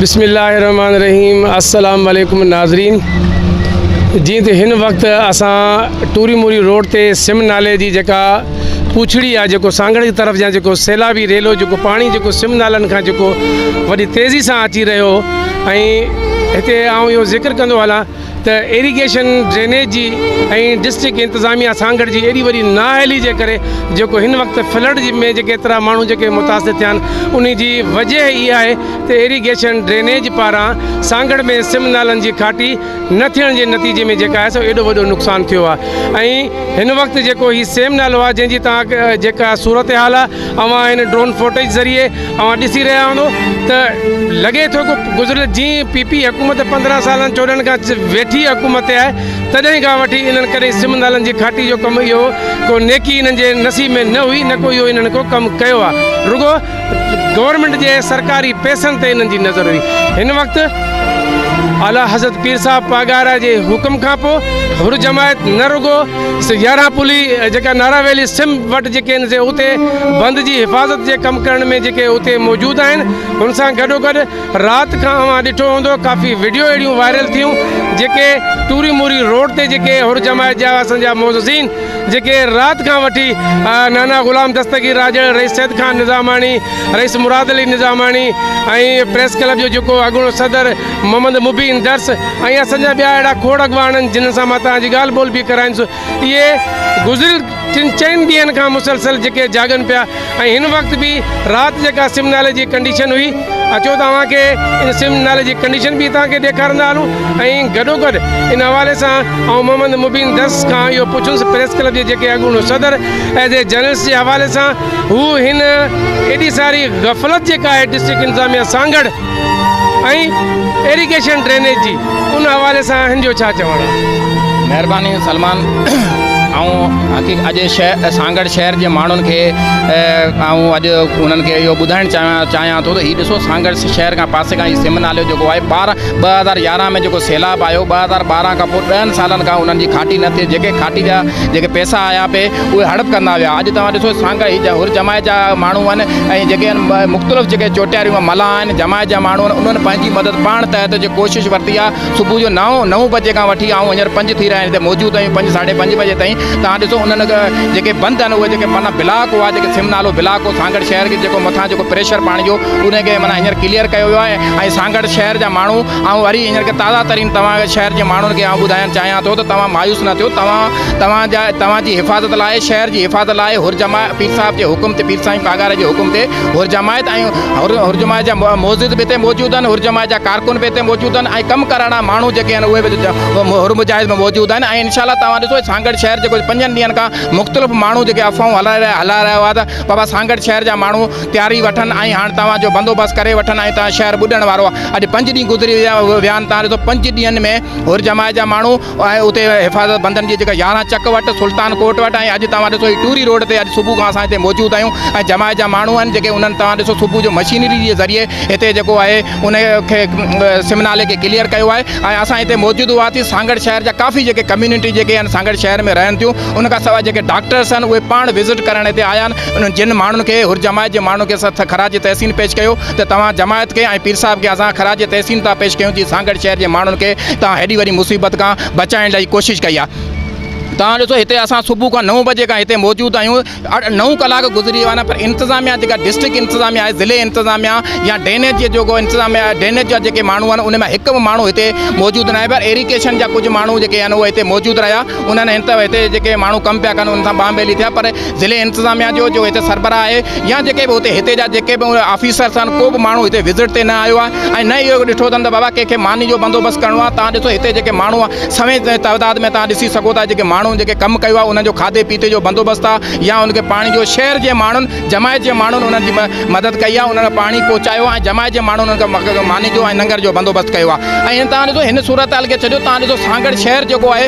بسم الله الرحمٰن الرحيم السلام عليڪم ناظرين جي ته هن وقت اسان ٽوري موري روڊ تي سم نالي جي جيڪا پوڇڙي آ جيڪو سانگڙ جي طرف جا جيڪو سيلابي ريلو جيڪو پاڻي جيڪو سم نالن کان جيڪو وڏي تيزي سان اچي رهيو ۽ هتي آئون اهو ذڪر ڪندو هلان ته ايريگيشن، ڊرينيج جي ۽ ڊسٽرڪٽ انتظاميا سانگهڙ جي ايڏي وڏي نااهلي جي ڪري جيڪو هن وقت فلڊ ۾ جيڪي ايترا ماڻهو جيڪي متاثر ٿيا آهن انهي جي وجهه اها آهي ته ايريگيشن ڊرينيج پاران سانگهڙ ۾ سم نالن جي کاٽي نه ٿيڻ جي نتيجي ۾ جيڪا آهي سو ايڏو وڏو نقصان ٿيو آهي ۽ هن وقت جيڪو هي سيم نالو آهي جنهن جي تان جيڪا صورتحال آهي اوهان هن ڊرون فوٽيج ذريعي اوهان ڏسي رهيا هوندو ته لڳي ٿو ڪو گذريل جي پي پي حڪومت پندرهن سالن چوڏهن کان ويٺي حڪومت تي آهي تڏهن کان وٺي انهن ڪڏهن سم نالن جي کاٽي جو ڪم اهو ڪو نيڪي انهن جي نصيب ۾ نه هئي نه ڪو اهو انهن ڪو ڪم ڪيو آهي رڳو گورنمينٽ جي سرڪاري پئسن تي انهن جي نظر هئي هن وقت اعليٰ حضرت پير صاحب پاڳارا جي حڪم کان پوء حر جماعت نه رڳو سيارا پلي جيڪا نارا ويلي سم وٽ جيڪي آهن سي اتي بند جي حفاظت جي ڪم ڪرڻ ۾ جيڪي اتي موجود آهن ان سان گڏو گڏ رات کان اوهان ڏٺو هوندو ڪافي وڊيو اهڙيون وائرل ٿيون جيڪي ٽوري موري روڊ تي جيڪي هر جماعت جا اسان جا معززين جيڪي رات کان وٺي نانا غلام دستگير راڄڙ رئيس سيد خان نظاماڻي رئيس مراد علي نظاماڻي ۽ پريس ڪلب جو جيڪو اڳوڻو صدر محمد مبين درس ۽ اسان جا ٻيا اهڙا کوڙ اڳواڻ آهن جنهن سان مان توهان جي ڳالهه ٻولهه به ڪرائيندس اهي گذريل ٽن چئن ڏينهن کان مسلسل جيڪي جاڳن پيا ۽ هن وقت به رات جيڪا سم نالي جي ڪنڊيشن هئي اچو ته اوهان کي ان سم نالي جي ڪنڊيشن به توهان کي ڏيکارندا هلون ۽ گڏو گڏ ان حوالي سان آئون محمد مبين درس کان اهو پڇنس پريس ڪلب جي جيڪي اڳوڻو صدر ايز اي جرنلسٽ جي حوالي سان هو هن ايڏي ساري غفلت جيڪا آهي ڊسٽرڪٽ انتظاميا سانگهڙ ۽ ايريگيشن ڊرينيج جي ان حوالي سان اهن جو ڇا چوڻ. مهرباني سلمان آئون حقيق اڄ شهر سانگهڙ شهر جي ماڻهن کي آئون اڄ انهن کي اهو ٻڌائڻ چاهيان چاهيان ٿو ته هي ڏسو سانگهڙ شهر کان پاسي کان هي سم نالو جيڪو آهي ٻارهن ٻه هزار يارهن ۾ جيڪو سيلاب آيو ٻه هزار ٻارهن کان پوء ڏهن سالن کان انهن جي کاٽي نه ٿي جيڪي کاٽي جا جيڪي پيسا آيا پي اهي هڙپ ڪندا ويا. اڄ توهان ڏسو ته سانگا هي جا هر جماعت جا ماڻهو آهن ۽ جيڪي هن مختلف جيڪي چوٽياريون ۽ ملاح آهن، جماعت جا ماڻهو آهن، انهن پنهنجي مدد پاڻ تحت جي ڪوشش ورتي آهي. صبح جو نو، نو بجي کان وٺي آئون هينئر پنج ٿي رهيا آهن هتي موجود آهيون پنج ساڍي پنج بجي تائين توهان ڏسو انهن جيڪي بند آهن اهي جيڪي معنيٰ بلاڪ هئا جيڪي سم نالو بلاڪ هو سانگهڙ شهر کي جيڪو مٿان جيڪو پريشر پاڻي جو انهي کي معنيٰ هينئر ڪليئر ڪيو ويو آهي ۽ سانگهڙ شهر جا ماڻهو آئون وري هينئر کي تازا ترين توهان کي شهر جي ماڻهن کي آئون ٻڌايڻ چاهيان ٿو ته توهان مايوس نه ٿيو توهان توهان جا توهان جي حفاظت لاء شهر جي حفاظت لاء حرجماء پير صاحب جي حڪم تي پير سائين پاڳاري جي حڪم تي حرجماعت ۽ حرجماء جا معزز به هتي موجود آهن حرجماء جا ڪارڪن به هتي موجود آهن ۽ ڪم ڪرڻا ماڻهو جيڪي آهن اهي به حرمجاهز ۾ موجود آهن ۽ انشاء الله توهان ڏسو سانگهڙ شهر جيڪو پنجن ڏينهن کان مختلف ماڻهو جيڪي افواهون هلائي رهيا هلائي رهيا هئا ته بابا سانگهڙ شهر جا ماڻهو تياري وٺن ۽ هاڻ توهان جو بندوبست ڪري وٺن ۽ توهان شهر ٻڏڻ وارو آهي اڄ پنج ڏينهن گذري ويا ويا آهن توهان ڏسو پنج ڏينهن ۾ حرجماء جا ماڻهو ۽ اتي حفاظت بندن جي جيڪا يارهن چڪ وٽ سلطان ڪوٽ وٽ ۽ اڄ توهان ڏسو هي ٽوري روڊ تي اڄ صبح کان اسان هتي موجود آهيون ۽ جماعت جا ماڻهو آهن جيڪي انهن توهان ڏسو صبح جو مشينري جي ذريعي هتي جيڪو آهي ان کي سم نالي کي ڪليئر ڪيو آهي ۽ اسان هتي موجود هئاسين سانگهڙ شهر جا ڪافي جيڪي ڪميونٽي جيڪي آهن سانگهڙ شهر ۾ رهن ٿيون ان کان سواء جيڪي ڊاڪٽرس آهن اهي پاڻ وزٽ ڪرڻ هتي آيا آهن انهن جن ماڻهن کي هر جماعت جي ماڻهن کي اسان خراج تحسين پيش ڪيو ته توهان جماعت کي ۽ پير صاحب کي اسان خراج تحسين ٿا پيش ڪيون جي سانگهڙ شهر جي ماڻهن کي توهان هيڏي وڏي مصيبت کان بچائڻ لئي ڪوشش ڪئي آهي توهان ڏسو هتي اسان صبح کان نو بجي کان هتي موجود آهيون اٺ نو ڪلاڪ گذري ويا آهن پر انتظاميا جيڪا ڊسٽرڪٽ انتظاميا آهي ضلعي انتظاميا يا ڊرينيج جي جيڪو انتظاميا آهي ڊرينيج جا جيڪي ماڻهو آهن ان ۾ هڪ به ماڻهو هتي موجود ناهي پر ايريڪيشن جا ڪجهه ماڻهو جيڪي آهن اهي هتي موجود رهيا انهن هن ته هتي جيڪي ماڻهو ڪم پيا ڪن ان سان ٻانهه ٻيلي ٿيا پر ضلعي انتظاميا جو جو هتي سربراهه آهي يا جيڪي به هتي هتي جا جيڪي به آفيسر سان ڪو به ماڻهو هتي وزٽ تي نه آيو آهي ۽ نه ئي اهو ڏٺو اٿن ته بابا ڪنهن کي ماني جو بندوبست ڪرڻو آهي تان ڏسو هتي جيڪي ماڻهو سوين تعداد ۾ تان ڏسي سگهو ٿا جيڪي ماڻهو جيڪي ڪم ڪيو آهي انهن جو کاڌي پيتي جو بندوبست آهي يا ان کي پاڻي جو شهر جي ماڻهن جماعت جي ماڻهن انهن جي مدد ڪئي آهي انهن کي پاڻي پهچايو آهي جماعت جي ماڻهن انهن کي ماني جو ۽ ننگر جو بندوبست ڪيو آهي ۽ تان ڏسو هن صورتحال کي ڇڏيو تان ڏسو سانگهڙ شهر جيڪو آهي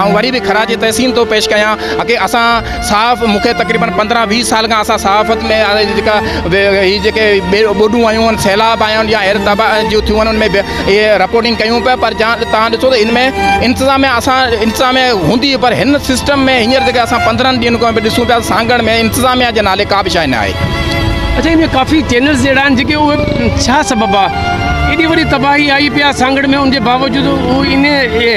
آئون وري به خراج تحسين ٿو پيش ڪيان ڪي اسان صحاف مون کي تقريبن پندرهن ويهه سال کان اسان صحافت ۾ جيڪا هي جيڪي ٻوڏون آيون آهن سيلاب آيا آهن يا اهڙي طبع جون ٿيون آهن ان ۾ اهي رپورٽنگ ڪيون پيا پر جا تان ڏسو ته ان ۾ انتظاميا اسان انتظاميا هوندي هئي پر هن سسٽم ۾ هينئر جيڪي اسان پندرهن ڏينهن کان به ڏسون پيا سانگهڙ ۾ انتظاميا جي نالي ڪا به شاهي نه آهي اڇا هن ۾ ڪافي چينلز اهڙا آهن جيڪي اهي ڇا سبب آهي ايڏي وڏي تباهي آئي پي آهي سانگهڙ ۾ ان جي باوجود هو ان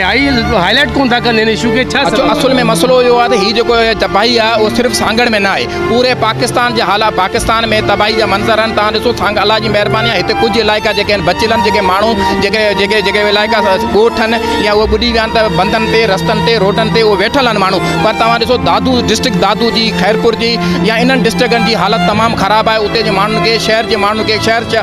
هاء لائيٽ ڪونه ٿا ڪن هن اشو کي ڇا سبب آهي؟ اصل ۾ مسئلو اهو آهي ته هي جيڪو تباهي آهي اهو صرف سانگهڙ ۾ نه آهي پوري پاڪستان جي حالات پاڪستان ۾ تباهي جا منظر آهن توهان ڏسو سانگهڙ الله جي مهرباني آهي هتي ڪجهه علائقا جيڪي آهن بچيل آهن جيڪي ماڻهو جيڪي جيڪي جيڪي علائقا ڳوٺ آهن يا اهي ٻڏي ويا آهن ته بندن تي رستن تي روڊن تي اهي ويٺل آهن ماڻهو پر توهان ڏسو دادو ڊسٽرڪٽ دادو جي خيرپور جي يا انهن ڊسٽرڪن جي حالت تمام خراب آهي اتي جي ماڻهن کي شهر جي ماڻهن کي شهر